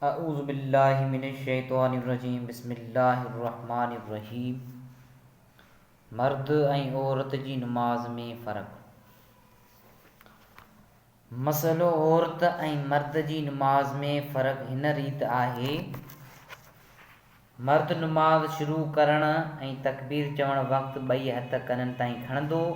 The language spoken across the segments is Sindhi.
اعوذ بالله من الشيطان الرجيم بسم الله الرحمٰن الرحيم مرد ۽ عورت جي نماز ۾ فرق مسئلو عورت ۽ مرد جي نماز ۾ فرق هن ريت آهي مرد نماز شروع ڪرڻ ۽ تڪبير چوڻ وقت ٻئي هٿ ڪنن تائين کڻندو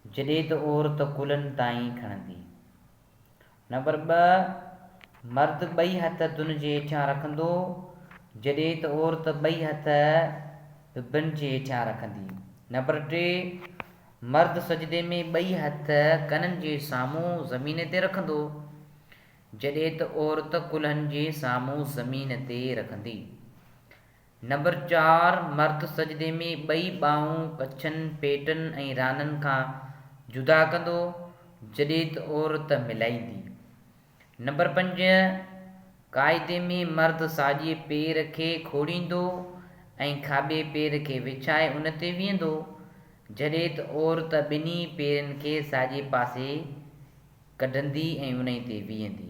جڏهن ته عورت ڪلهن تائين کڻندي نمبر ٻه، مرد ٻئي هٿ دن جي هيٺيان رکندو، جڏهن ته عورت ٻئي هٿ به بن جي هيٺيان رکندي. نمبر ٽي، مرد سجدي ۾ ٻئي هٿ ڪنن جي سامهون زمين تي رکندو، جڏهن ته عورت ڪلهن جي سامهون زمين تي رکندي. نمبر چار، مرد سجدي ۾ ٻئي ٻانهون ڪڇن، پيٽن ۽ رانن کان جدا ڪندو، جڏهن ته عورت ملائيندي. نمبر پنج، قاعدي ۾ مرد ساڄي پير کي کوڙيندو ۽ کاٻي پير کي وڇائي ان تي ويهندو، جڏهن ته عورت ٻنهي پيرن کي ساڄي پاسي ڪڍندي ۽ انهي تي ويهندي.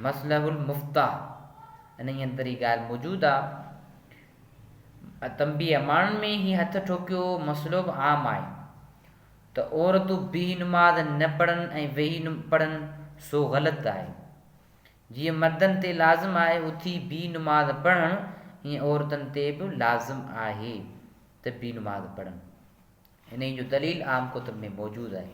مصلح المفتاح انهي اندر هي ڳالهه موجود آ. تنبيه اماڻن ۾ هي هٿ ٺوڪيو مسئلو به عام آهي ته عورتون بيهي نماز نه پڙهن ۽ ويهي پڙهن سو غلط آهي. جيئن مردن تي لازم آهي اٿي بيهي نماز پڙهڻ ايئن عورتن تي به لازم آهي ته بيهي نماز پڙهن. انهي جو دليل عام ڪتب ۾ موجود آهي.